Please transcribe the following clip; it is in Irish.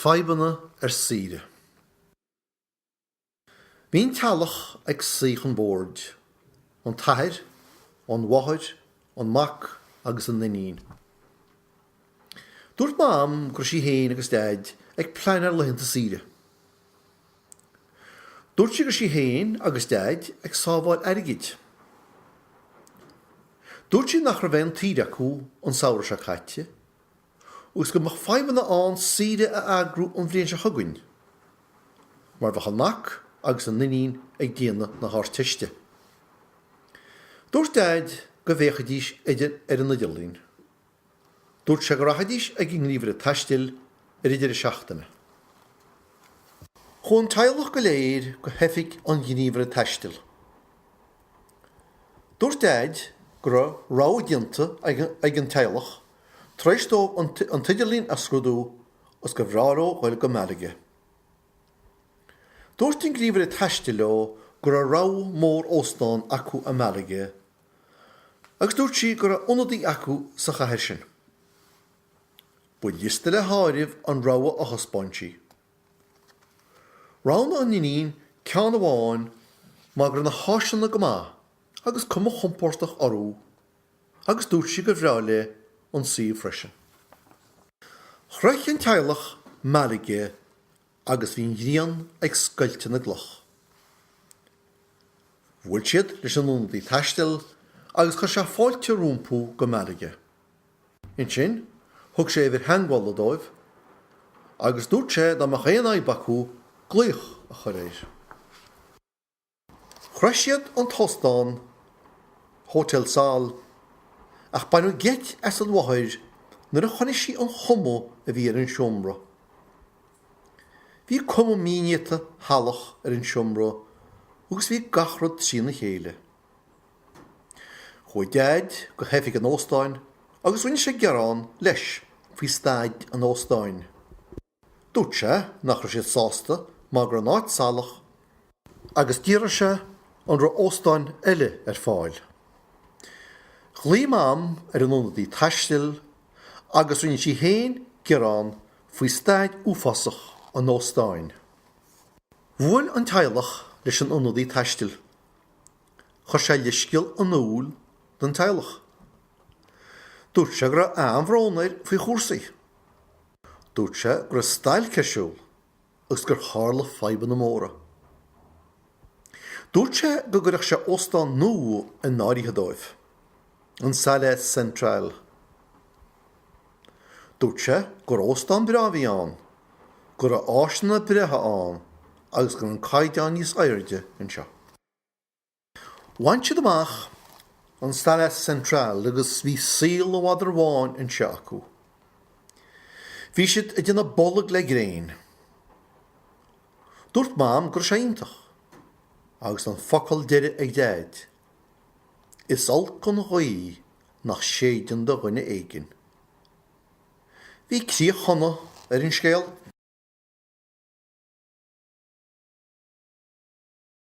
Fadhbanna ar saoire. Bhí an teaghlach ag suí chun boird, an t-athair, an mháthair, an mac agus an iníon. Dúirt Mam go raibh sí féin agus Daid ag pleanáil laethanta saoire. Dúirt sí go raibh sí féin agus Daid ag sábháil airgid. Dúirt sí nach raibh aon tsaoire acu an samhradh seo caite agus go mbeadh fadhbanna ann saoire a eagrú an bhliain seo chugainn mar bheadh a mac agus a n-iníon ag déanamh na hArdteiste. Dúirt Daid go bhféachfaidís ar an idirlíon. Dúirt sé go rachaidís chuig an ngníomhaire taistil ag an deireadh seachtaine. Chuaigh an teaghlach go léir go hoifig an ghníomhaire taistil. Dúirt Daid go raibh rogha déanta ag an teaghlach tar éis dóibh an t-idirlíon a scrúdú agus gur bhreá leo dul go Malaga. Dúirt an gníomhaire taistil leo go raibh rogha mór óstán acu i Malaga agus dúirt sí go raibh ionadaí acu sa chathair sin. Ba liosta le háireamh an rogha a thaispeáin sí. Roghnaigh an iníon ceann amháin mar go raibh na háiseanna go maith agus cuma chompordach orthu agus dúirt sí gur bhreá léi an suíomh freisin. Shroich an teaghlach Malaga Agus bhí an ghrian ag scoilteadh na gcloch. Bhuail siad leis an ionadaí taistil agus chuir sé fáilte rompu go Malaga. Ansin thug sé uimhir theagmhála dóibh agus dúirt sé dá mbeadh aon fhadhb acu glaoch a chur air. Shroich siad an t-óstán, Hotel Sol, ach baineadh geit as an mháthair nuair a chonaic sí an chuma a bhí ar an seomra. Bhí cuma mhínéata shalach ar an seomra agus bhí gach rud trína chéile. Chuaigh Daid go hoifig an óstáin agus rinne sé gearán leis faoi staid an óstáin. Dúirt sé nach raibh siad sásta mar go raibh an áit salach agus d'fhiafraigh sé an raibh óstáin eile ar fáil. Ghlaoigh Mam ar an ionadaí taistil agus rinne sí féin gearán faoi staid uafásach an óstáin. Bhuail an teaghlach leis an ionadaí taistil. Chuir sé leithscéal in iúl don teaghlach. Dúirt sé go raibh an-bhrón air faoi chúrsaí. Dúirt sé go raibh stailc ar siúl agus gur tharla fadhbanna móra. Dúirt sé go gcuirfeadh sé óstán nua in áirithe dóibh, an Salles Central. Dúirt sé gur óstán breá a bhí ann, go raibh áiseanna breátha ann agus go raibh an caighdeán níos airde anseo. Bhain siad amach an Salles Central agus bhí saol an mhadra bháin anseo acu. Bhí siad ag déanamh bolg le gréin. Dúirt Mam go raibh sé iontach agus an focal deiridh ag Daid. Is olc an ghaoth nach séideann do dhuine éigin. Bhí críoch shona ar an scéal.